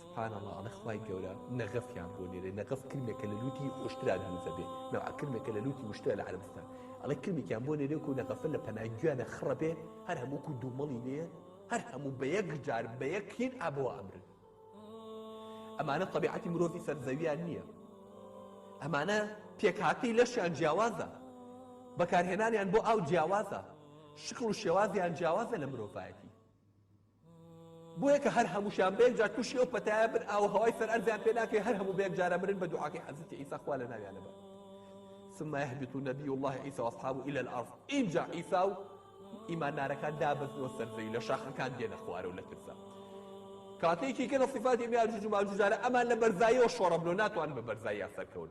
سبحان اللە ئەڵێ خوای گەورە نەغەفیان بۆ نێرێ نەغەف کرمێکە لە لوتی خۆشترا دروزە بێ نەوە کرمێکە لە لوتی وشترا لە عربستان ئەڵێ کرمێکیان بۆ نێرێک و نەغەفە لە پەناگویانە خڕە بێ هەر هەمووکو دوومەڵی لێ هەر هەموو بە یەک جار بە یەکین ئابەوە ئەمرن ئەمانە طبیعەتی مرۆڤی سەرزەویان نییە ئەمانە پێکهاتەی لەشیان جیاوازە بەکارهێنانیان بۆ ئاو جیاوازە شکڵ و شێوازیان جیاوازە لە مرۆڤایەتی بۆیە کە هەر هەمووشیان بە یەکجار تووشی ئەو پەتایە بن ئاو و هەوای سەر ئەرزیان پێ ناکەوێت هەر هەموو بە یەکجارە مرن بە دوعاکەی حەزرەتی عیسا خوا لە ناویانە بات ثم يهبط نبي الله عيسى واصحابه الى الارض اینجا عیسا و ئیماندارەکان دابەزنەوە سەر زەوی لە شاخەکان دێنە خوارە و لە ترسا کاتێکی کە لە صفاتی میاجوج و ماجوجارە ئەمان لە بەرزاییەوە شۆڕە بلۆ ناتوان بە بەرزاییان سەرکەون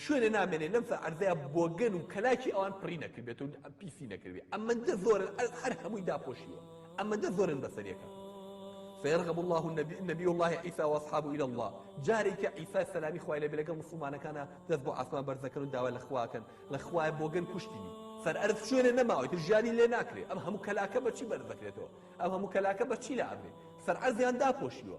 شوێنێ نامێنێ لەم سەر عەرزەیا بۆگەن و کەلاکی ئەوان پڕی نەکردبێت و پیسی نەکردبێ ئەمەندە زۆرن هەر هەمووی داپۆشیوە ئەمەندە زۆرن بەسەریەکە فيرغب الله النبي نبي الله عيسى واصحابه الى الله جارێک کە عیسا سەلامی خوای لەبێ لەگەڵ مسلمانەکانە دەست بۆ ئاسمان بەرزەکەن و داوا لە خواکەن لە خوای بۆگەن کوشتنی سەر ئەرز شوێنێ نەماوەی تر ژیانی لێ ناکرێ ئەم هەموو کەلاکە بەچی بەرز دەکرێتەوە ئەم هەموو کەلاکە بەچی لە ئەبرێ سەر ئەرزیان داپۆشیوە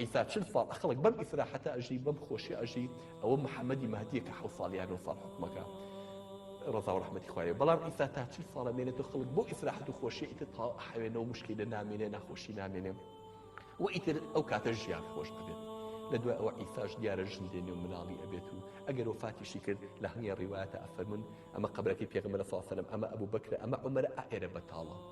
ئیسا چل ساڵ ئەخڵک بەم ئیسراحەتە ئەژی بەم خۆشی ئەژی ئەوە محەممەدی مادیە کە حو ساڵ یان ساڵ حکومەکە ڕزا و ڕحمەتی خوایە بەڵام ئیسا تا چل ساڵە مێنێت و خڵک بۆ ئیسراحەت و خۆشی ئیتر تا حوێنەوە مشکی لە نامێنێ ناخۆشی نامێنێ و ئیتر ئەو کاتە ژیان خۆش ببێت لە دوای ئەوە ئیساش دیارە ژن دێنێ و مناڵی ئەبێت و ئەگەر و فاتیشی کرد لە هەنگە ڕیواەتە ئەفەرمونون ئەمە قبلەکەی پێغمە لە ساسەرم ئەمە ئەبوو بکرە ئەمە عمەرە ئائێرە بەتاڵە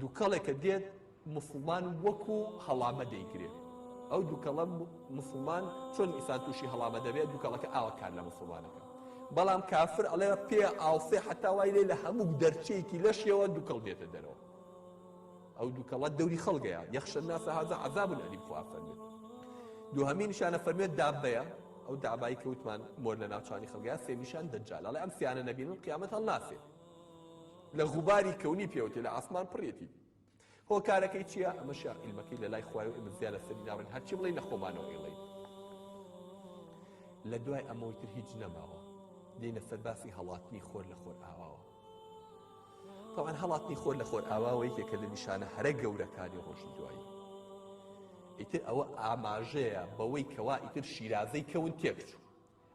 دوکەڵێکە دێت موسڵمان وەکو هەڵامە دەیگرێت ئەو دوکەڵە مسلمان چۆن ئیسان تووشی هەڵامە دەبێت دوکەڵەکە ئاوە کار لە مسلمانەکە بەڵام کافر ئەڵێ پێ ئاوسێ حتا وای لێ لە هەموو دەرچەیەکی لەشیەوە دوکەڵ دێتە دەرەوە ئەو دوکەڵە دەوری خەڵگەیە یەخشە ناسە هازە عذاب ئەلیم خوافەرمێت دوهەمین شانە فەرمێت دابەیە ئەو دابایی کەوتمان مۆر لە ناوچانی خەڵگەیە سێمیشان دەجال ئەڵێ ئەم سیانە نەبین و قیامەت هەڵناسێت لە غوباری کەونی پێوەتی لە ئاسمان پڕیەتی هۆکارەکەی چییە ئەمەشیا عیلمەکەی لە لای خوای و ئمە زیاد لە سەری ناڕێن هەرچی بڵێ لە خۆمانەوە ئیڵین لە دوای ئەمەوەی تر هیچ نەماوە دێنە سەرباسی هەڵاتنی خۆر لە خۆر ئاواوە تاوان هەڵاتنی خۆر لە خۆر ئاواوە یەکێکە لە نیشانە هەرە گەورەکانی ڕۆژی دوایی ئیتر ئەوە ئاماژەیە بەوەی کەوا ئیتر شیرازەی کەون تێکچوو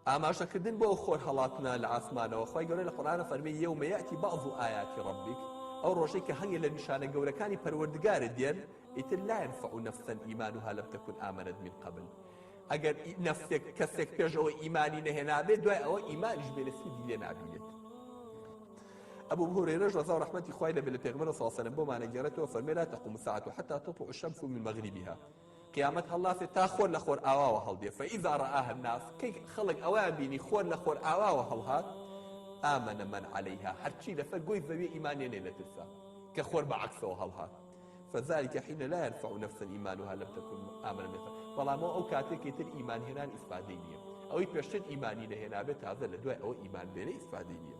ئاماژەکردن بۆ ئەو خۆرهەڵاتنە لە ئاسمانەوە، خوای گەورە لە قورئان فەرمی، یەومە یاتی بەعض ئایاتی ڕەبیک، ئەو ڕۆژەی کە هەنگێ لە نیشانە گەورەکانی پەروەردگارت دێن، ئیتر لا ینفع نفسا ایمانها لم تکن آمنت من قبل، ئەگەر نەفسێک، کەسێک پێش ئەوە ئیمانی نەهێنابێت دوای ئەوە ئیمانیش بێنێت سوودی لێ نابینێت. ئەبو هورەیرەش ڕەزا و ڕەحمەتی خوای لێ بێت لە پێغەمبەرەوە صلی اللە علیە و سلم بۆمان ئەگێڕێتەوە فەرمێ لا تقوم الساعە حتی تطلع الشمس من مغربها قیامەت هەڵناسێ تا خۆر لە خۆر ئاواوە هەڵدێ فەئیزا ڕآها الناس کەی خەڵک ئەویان بینی خۆر لە خۆر ئاواوە هەڵهات ئامەنە من عەلەیها هەرچی لەسەر گۆی زەوی ئیمانێنێ لە ترسا کە خۆر بە عەکسەوە هەڵهات فذلك حين لا ينفع نفسا إيمانها لم تكن آمنا مثلا بەڵام ئەو کاتێکی تر ئیمان هێنان ئیسپادەی نییە ئەوەی پێشتر ئیمانی نەهێنابێت تازە لە دوای ئەوە ئیمان بێنە ئیسپادەی نییە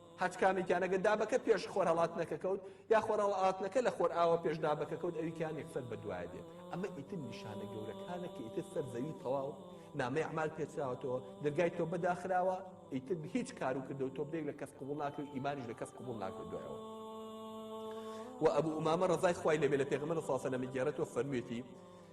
هەچکامێکیان ئەگەر دابەکە پێش خۆرهەڵاتنەکە کەوت یا خۆرهەڵاتنەکە لە خۆرئاوا پێش دابەکە کەوت ئەوی کیان یەکسەر بەدوایە دێت ئەمە ئیتر نیشانە گەورەکانە کە ئیتر سەر زەوی تەواو نامەی ئەعمال پێچراوەتەوە دەرگای تۆ بەداخراوە ئیتر هیچ کار و کردو تۆ بێک لە کەس قوبڵ ناکرێت و ئیمانیش لە کەس قوبڵ ناکرێت دوایەوە و ئەبوو ئومامە ڕزای خوای لەبێ لە پێغمە لە ساسە لە مگەێرەەوە فەرموویەتی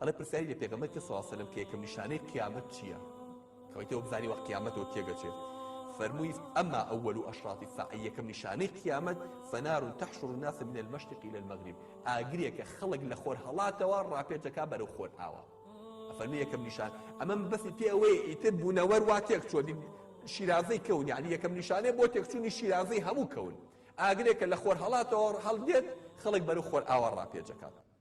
ئەڵێ پرسیاری لە پێغەمبەر کرد سڵاو سەلەم کە یەکەم نیشانەی قیامەت چییە کەوەی تۆ بزانی وە قیامەت و تێگەچێت فەرمووی ئەما ئەول و ئەشراتی ساعی یەکەم نیشانەی قیامەت فەنار تحشر الناس من المشرق الى المغرب ئاگرێکە خەڵک لە خۆر هەڵاتەوە ڕاپێچەکە بەرەو خۆر ئاوە فەرمی یەکەم نیشان ئەمەم بەسی پێ ئەوەیە ئیتر بوونەوەر وا تێک چۆ شیرازەی کەون یعنی یەکەم نیشانەیە بۆ تێکچوونی شیرازەی هەموو کەون ئاگرێکە لە خۆر هەڵاتەوە هەڵدێت خەڵک بەرەو خۆر ئاوا ڕاپێچەکات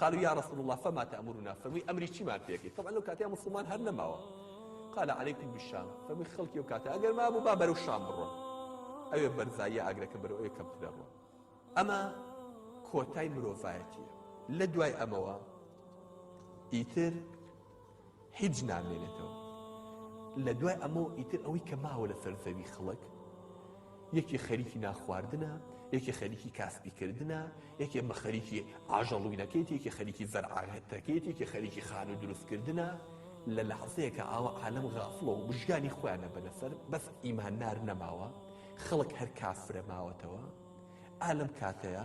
قالوا یا رسول اللە فما تامرنا فەرمووی ئەمری چیمان پێکەی تەبعا لەو کاتەیە موسڵمان هەر نەماوە قال عليكم بالشام فەرمووی خەڵکی ئەو کاتە ئەگەر مابوو با بەرەو شام بڕۆن ئەوێ بەرزاییە ئاگرەکە بەرەو ئەوێ کەمترە ڕۆن ئەمە کۆتای مرۆڤایەتیە لە دوای ئەمەوە ئیتر هیچ نامێنێتەوە لە دوای ئەمە و ئیتر ئەوەی کە ماوە لەسەر زەوی خەڵک یەکێ خەریکی ناخواردنە یەکێ خەریکی کاسپیکردە یەکێ بە خەریکی ئاژەڵوینەکەیت یەکێ خەریکی زەرعاهێتەکەیت یەکێ خەریکی خان و دروستکردە لە لە حەسەیەکە ئاوە عالم غافڵەوە و بژگانی خۆیانە بەنەسەر بەس ئیماندار نەماوە خەڵک هەر کافرە ماوەتەوە ئالم کاتەیە